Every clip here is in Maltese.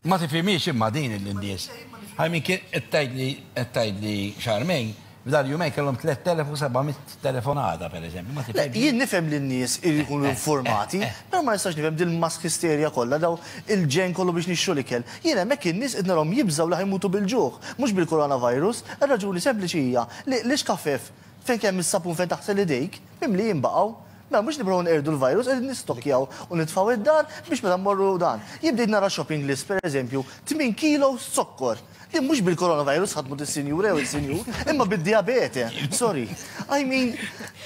Ma tifimiex imma din il-indies. Għajmin kien għettajdli, għettajdli xarmejn, f'dal jumej kellhom 3700 telefonata, per eżempju. Ma tifimiex. Jien nifhem li n-nies jkunu informati, eh, eh. pero ma nistax nifhem din mask histerja kollha daw il-ġen kollu biex nixxu l-ikel. Jien hemmhekk in-nies qed narhom jibżgħu li ħajmutu bil-ġuħ, mhux bil-coronavirus. Ir-raġuni sempliċi hija li l-iskafef fejn kemm is-sapun fejn taħsel idejk, Mimlijin baqgħu. Mela mhux nibqgħu nqerdu l-virus qegħdin nistokkjaw u nitfgħu d-dar biex meta mmorru dan. Jien bdejt nara shopping list pereżempju, tmien kilos zokkor. Din mhux bil-coronavirus ħadmu dis-sinjura jew is-sinjur, imma bid-dijabete. Sorry. I mean,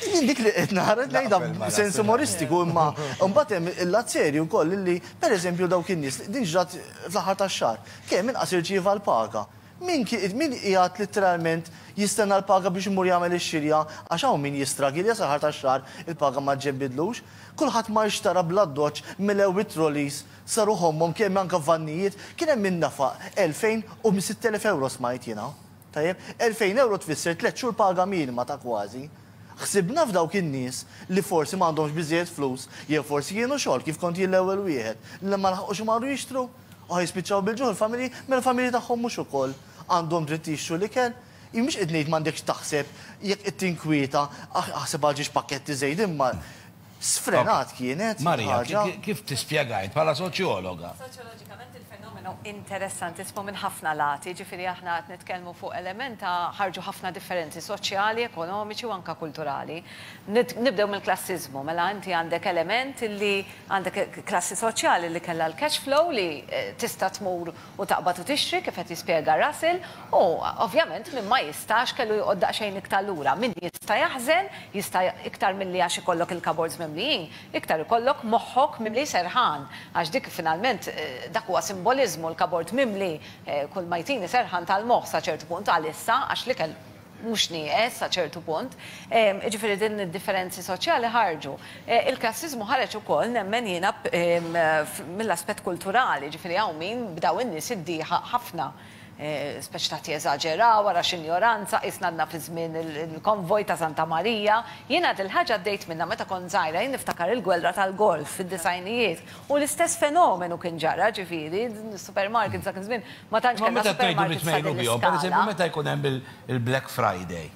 jien dik li qed nara qed ngħidha b'sens umoristiku imma mbagħad hemm il-lat serju wkoll li pereżempju dawk in-nies, din ġrat fl-aħħar tax-xahar, kemm inqas irċieva l-paga. Min min qiegħed litteralment jistenna l-paga biex imur jagħmel ix-xirja għax hawn min jistragilja sal-aħħar tax-xahar il-paga ma ġġebbidlux? Kulħadd mar xtara bl-addoċċ melew it-trolleys saru ħommhom kemm anke vannijiet kien hemm min nefaq elfejn u sitt elef ewro smajt jiena. Tajjeb? Elfejn ewro tfisser tliet xhur paga minima ta' kważi. Ħsibna f'dawk in-nies li forsi m'għandhomx biżżejjed flus jew forsi kienu xogħol kif kont jien l-ewwel wieħed li ma laħqux imorru jixtru? Aħ jispiċċaw bil-ġuħ il-familji, mela l-familji tagħhom mhux ukoll għandhom dritt jixtru l-ikel? Jien mhux qed ngħid m'għandekx taħseb, jekk qed tinkwieta, aħ aħseb għal ġiex pakketti żejda imma sfrenat kienet il-ħaġa. Maria, kif tispjegah int bħala soċjologa? Soċjoloġikament il-fenomenu interessantissimu minn ħafna lati, jiġifieri aħna qed nitkellmu fuq element ta' ħarġu ħafna differenzi soċjali, ekonomiċi u anke kulturali. Nibdew mill-klassiżmu, mela inti għandek element li Għandek klassi soċjali li kellha l-cash flow li tista' tmur u taqbad u tixtri, kif qed jispjega Russell, u, ovvjament, min ma jistax kellu joqgħod daqsxejn iktar lura. Min jista' jaħżen, jista' iktar milli għax ikollok il-cupboards mimlijin, iktar ikollok moħħok mimli serħan, għax dik finalment, dak huwa simboliżmu, l-cupboard mimli, kull ma jtini serħan tal-moħħ sa ċertu punt, għalissa, għax l-ikel, mhux nieqes sa ċertu punt. Jiġifieri din id-differenzi soċjali ħarġu. Il-klassiżmu ħareġ ukoll nemmen jiena mill-aspett kulturali, jiġifieri hawn min b'dawn in-nies iddieħaq ħafna, speċi ta' jeżaġeraw, wara x'injoranza, qisna għadna fi żmien il-konvoj ta' Santa Marija. Jiena dil-ħaġa għaddejt minnha meta kont żgħira, jien niftakar il-gwelra tal-Golf fid-disgħinijiet, U l-istess fenomenu kien ġara, ġifieri, supermarkets dak iż-żmien, ma tantx kellna supermarkets ta' din l-iskala. Per eżempju, meta jkun hemm il-Black Friday,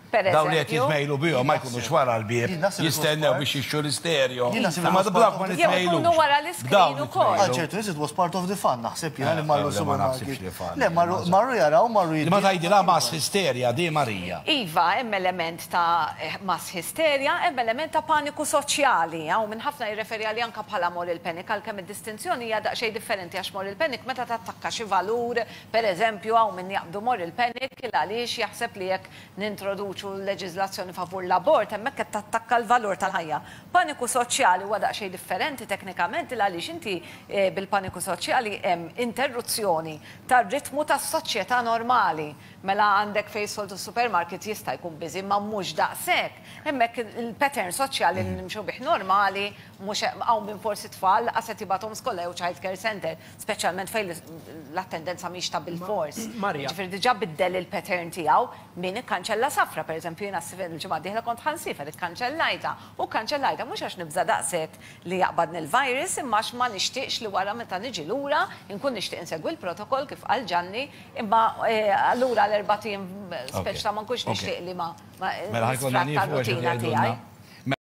dawk li qed jitmejlu bihom ma jkunux wara l-bieb jistennew biex jixtru l-isterjo. Imma dawk ma nitmejlux. Jew ikunu wara l-iskrin ukoll. Għal ċertu nies it was part of the fun, naħseb jien, li marru supermarket. Le, marru jaraw, marru jixtru. Imma tgħidilha mass hysteria di, Marija. Iva, hemm element. ta' mass hysteria, hemm element ta' paniku soċjali hawn minn ħafna jirreferi għalih anke bħala moral panic, għalkemm id-distinzjoni hija daqsxejn differenti għax moral panic meta tattakka xi valur, per eżempju hawn min jaqbdu moral panic il għaliex jaħseb li jekk nintroduċu leġiżlazzjoni favur l-abort hemmhekk qed tattakka l-valur tal-ħajja. Paniku soċjali huwa daqsxejn differenti teknikament il għaliex inti bil-paniku soċjali hemm interruzzjoni tar-ritmu tas-soċjetà normali, Mela għandek fejn soltu supermarket jista' jkun busy imma mhux daqshekk. Hemmhekk il-pattern soċjali li nimxu bih normali mhux hawn min forsi t-tfal laqas qed jibgħathom skola jew childcare center, speċjalment fejn l-attendenza mhix ta' bilfors. Jiġifieri diġà biddel il-pattern tiegħu min ikkanċella safra. Pereżempju jiena l-ġimgħa d-dieħla kont ħa nsiefer ikkanċellajtha u kkanċellajtha mhux għax nibża' daqshekk li jaqbadni l-virus imma għax ma nixtieqx li wara meta niġi lura nkun nixtieq insegwi l-protokoll kif qal Ġanni Imma allura għal erbat ijiem speċta ma nkunx nixtieq li ma nisfratta r-rutina tiegħi.